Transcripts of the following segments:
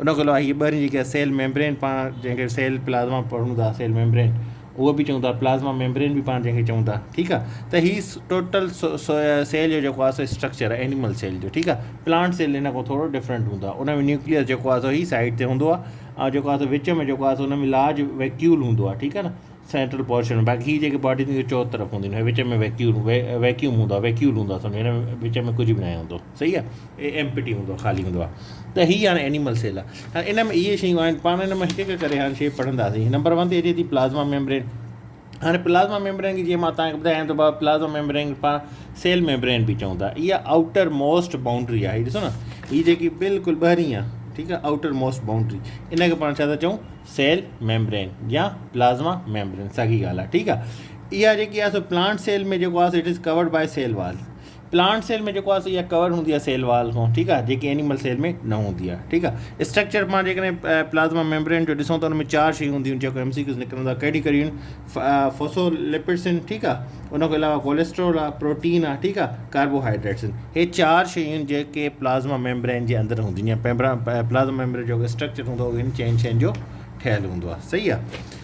ان کان علاوه هي ٻاهرين جيڪا سيل ميمبرين پاڻ جنهن کي سيل پلازما پڙهون ٿا سيل ميمبرين اهو به چون ٿا پلازما ميمبرين به پاڻ جنهن کي چون ٿا ٺيڪ آ ته هي ٽوٽل سيل جو جيڪو آ سو اسٽرڪچر آ اينيمل سيل جو ٺيڪ آ پلانٽ سيل هن کان ٿورو ڊفرنٽ هوندو آ ان ۾ نيوڪليس جيڪو آ سو هي سائيڊ تي هوندو آ ۽ جيڪو آ سو وچ ۾ جيڪو آ سو ان ۾ لارج ويڪيول هوندو آ ٺيڪ آ نه سينٽرل پورشن ۾ باقي هي جيڪي باڊي ٿينديون چوطرف هونديون آهن وچ ۾ ويڪيول ويڪيوم هوندو آ ويڪيول هوندو آ سمجهو هن ۾ وچ ۾ ڪجهه به ناهي هوندو صحيح آ اي ايم پٽي هوندو آ خالي هوندو آ ته هي هاڻي اينيمل سيل آ هاڻي ان ۾ اهي شيون آهن پاڻ ان مان هڪ هڪ ڪري هاڻ شي پڙهنداسين نمبر ون تي اچي ٿي پلازما ميمبرين هاڻي پلازما ميمبرين کي جيئن مان تان ٻڌايان ته بابا پلازما ميمبرين کي پاڻ سيل ميمبرين به چون ٿا اها آؤٽر موسٽ باؤنڊري آ هي ڏسو نه هي جيڪي بلڪل ٻهرين آ ٺيڪ آ آؤٽر موسٽ باؤنڊري ان کي پاڻ ڇا ٿا چون سيل ميمبرين يا پلازما ميمبرين ساڳي ڳالهه آ ٺيڪ آ اها جيڪي آ سو پلانٽ سيل ۾ جيڪو آ سو it is covered by cell wall plant cell ۾ جيڪو آهي اها ڪورڊ هوندي آهي سيل وال کان ٺيڪ آهي جيڪي اينيمل سيل ۾ نه هوندي آهي ٺيڪ آهي اسٽرڪچر پاڻ جيڪڏهن پلازما ميمبرين جو ڏسون ته ان ۾ چار شيون هونديون جيڪو ايم سي ڪيوز نڪرندا ڪهڙي ڪهڙي آهن فوسو لپيڊس آهن ٺيڪ آهي ان کان علاوه ڪوليسٽرول آهي پروٽين آهي ٺيڪ آهي ڪاربوهائيڊريٹس آهن هي چار شيون آهن جيڪي پلازما ميمبرين جي اندر هونديون آهن پلازما ميمبرين جو اسٽرڪچر هوندو آهي ان چئن شين جو ٺهيل هوندو آهي صحيح آهي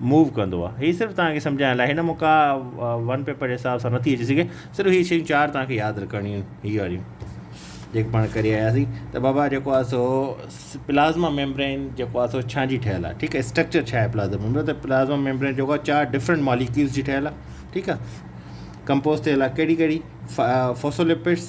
موو ڪندو آ هي صرف توهان کي سمجهائڻ لاء هن موقع ون پيپر جي حساب سان نٿي اچي سگهي صرف هي شيون چار توهان کي ياد رکڻيون آهن هي واريون جيڪي پاڻ ڪري آياسين ته بابا جيڪو آ سو پلازما ميمبرين جيڪو آ سو ڇا جي ٺهيل آ ٺيڪ آ اسٽرڪچر ڇا آهي پلازما ميمبرين ته پلازما ميمبرين جيڪو آ چار ڊفرنٽ ماليڪيولز جي ٺهيل آ ٺيڪ آ ڪمپوز ٿيل آ ڪهڙي ڪهڙي فوسولپيڊس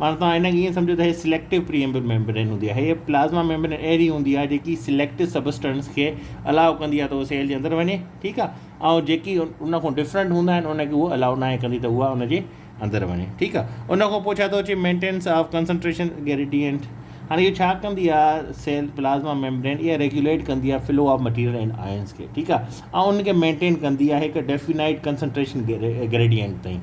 معنيٰ توهان هن کي ائين سمجهو ته هيء سليڪٽو پريمبل ميمبرين هوندي آهي. هيء پلازما ميمبرين اهڙي هوندي آهي جيڪي سليڪٽو سبسٽنس کي الاء ڪندي آهي ته اهو سيل جي اندر وڃي، ٺيڪ آهي، ۽ جيڪي ان کان ڊفرنٽ هوندا آهن ان کي هوء الاء ناهي ڪندي ته اها ان جي اندر وڃي، ٺيڪ آهي. ان کان پوء ڇا ٿو اچي مينٽيننس آف ڪنسنٽريشن گريڊيئنٽ. هاڻي اهو ڇا ڪندي آهي سيل پلازما ميمبرين اها ريگيوليٽ ڪندي آهي flow of material and ions کي، ٺيڪ آهي، ۽ ان کي مينٽين ڪندي آهي هڪ ڊيفينائيٽ ڪنسنٽريشن گريڊيئنٽ تائين.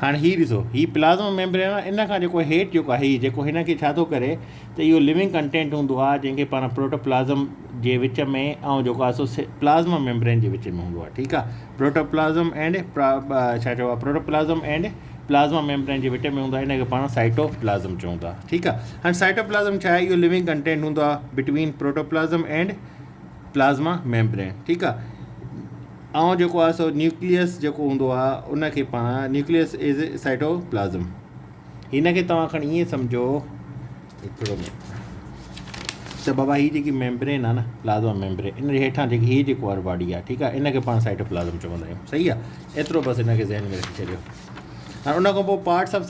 هاڻي هي ڏسو هي پلازما ميمبرين آهي ان کان جيڪو هيٺ جيڪو آهي هي جيڪو هن کي ڇا ٿو ڪري ته اهو لوينگ ڪنٽينٽ هوندو آهي جنهن کي پاڻ پروٽوپلازم جي وچ ۾ ۽ جيڪو آهي سو پلازما ميمبرين جي وچ ۾ هوندو آهي ٺيڪ آهي پروٽوپلازم اينڊ ڇا چئبو آهي پروٽوپلازم اينڊ پلازما ميمبرين جي وچ ۾ هوندو آهي ان کي پاڻ سائٽوپلازم چون ٿا ٺيڪ آهي هاڻي سائٽوپلازم ڇا آهي اهو لوينگ ڪنٽينٽ هوندو آهي between protoplasm and plasma membrane ٺيڪ آ ائون جيڪو آ سو نيوڪليس جيڪو هوندو آ ان کي پاڻ نيوڪليس از اي سائٽوپلازم ان کي توهان کڻي ائين سمجهو هڪڙو ته بابا هي جيڪي ميمبرين آ نه پلازما ميمبرين ان هيٺان جيڪي هي جيڪو وارو باڊي آ ٺيڪ آ ان کي پاڻ سائٽوپلازم چوندا آهيون صحيح آ ايترو بس ان کي ذهن ۾ رکي ڇڏيو ۽ ان کان پوء پارٽس آف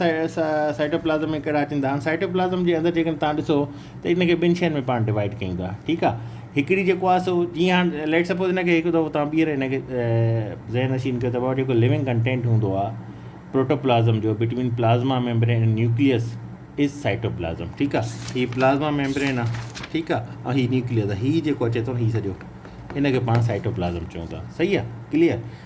سائٽوپلازم ۾ ڪهڙا اچن ٿا هاڻي سائٽوپلازم جي اندر جيڪڏهن تان ڏسو ته ان کي ٻن شين ۾ پاڻ ڊوائيڊ ڪيون ٿا ٺيڪ آ هڪڙي جيڪو آ سو جيئن هاڻي ليٽ سپوز ان کي هڪ دفعو تان ٻيهر ان کي ذهن نشين ڪيو ته بابا جيڪو لونگ ڪنٽينٽ هوندو آ پروٽوپلازم جو between plasma membrane and nucleus is cytoplasm ٺيڪ آ هي پلازما ميمبرين آ ٺيڪ آ ۽ هي نيوڪليس آ هي جيڪو اچي ٿو هي سڄو ان کي پاڻ سائٽوپلازم چون ٿا صحيح آ ڪليئر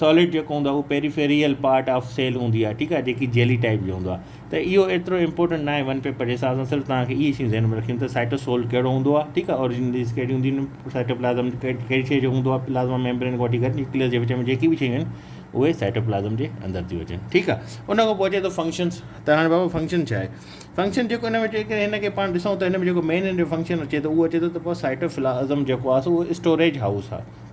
ساليڊ جيڪو هوندو آهي اهو پيريفيريل پارٽ آف سيل هوندي آهي ٺيڪ آهي جيڪي جيلي ٽائيپ جو هوندو آهي ته اهو ايترو امپورٽنٽ ناهي ون پيپر جي حساب سان صرف توهان کي اهي شيون ذهن ۾ رکڻيون ته سائٽوسول ڪهڙو هوندو آهي ٺيڪ آهي اوريجنليز ڪهڙي هونديون آهن سائٽوپلازم ڪهڙي شيء جو هوندو آهي پلازما ميمبرين کان وٺي ڪري نيوڪليس جي وچ ۾ جيڪي به شيون آهن اهي سائٽوپلازم جي اندر ٿيون اچن ٺيڪ آهي ان کان پوء اچي ٿو فنڪشنس ته هاڻي بابا فنڪشن ڇا آهي فنڪشن جيڪو هن ۾ جيڪڏهن هن کي پاڻ ڏسون ته هن ۾ جيڪو مين هن جو فنڪشن اچي ٿو اهو اچي ٿو ته پوء سائٽوپلازم جيڪو آهي سو اهو اسٽوريج هائوس آهي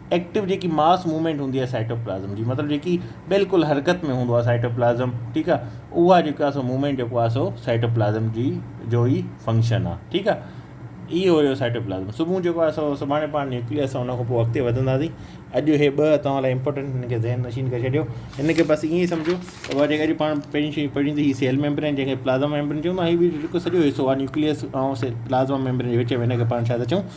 ايڪٽو جيڪي ماس موومينٽ هوندي آهي سائٽوپلازم جي مطلب جيڪي بلڪل حرڪت ۾ هوندو آهي سائٽوپلازم ٺيڪ آهي اها جيڪو آهي سو موومينٽ جيڪو آهي سو سائٽوپلازم جي جو ئي فنڪشن آهي ٺيڪ آهي اهو هيو سائٽوپلازم صبح جيڪو آهي سو سڀاڻي پاڻ نيوڪليس اسان ان کان اڳتي وڌنداسين اڄ هي ٻه توهان لاء امپورٽنٽ هن کي ذهن نشين ڪري ڇڏيو هن کي بس ائين ئي سمجهو وري جيڪا جي پاڻ پهرين شي پڙهين ته هي سيل ميمبرين جنهن کي پلازما ميمبرين چون ها هي بي جيڪو سڄو حصو آهي نيوڪليس ۽ سيل پلازما ميمبرين جي وچ ۾ هن کي پاڻ ڇا ٿا چون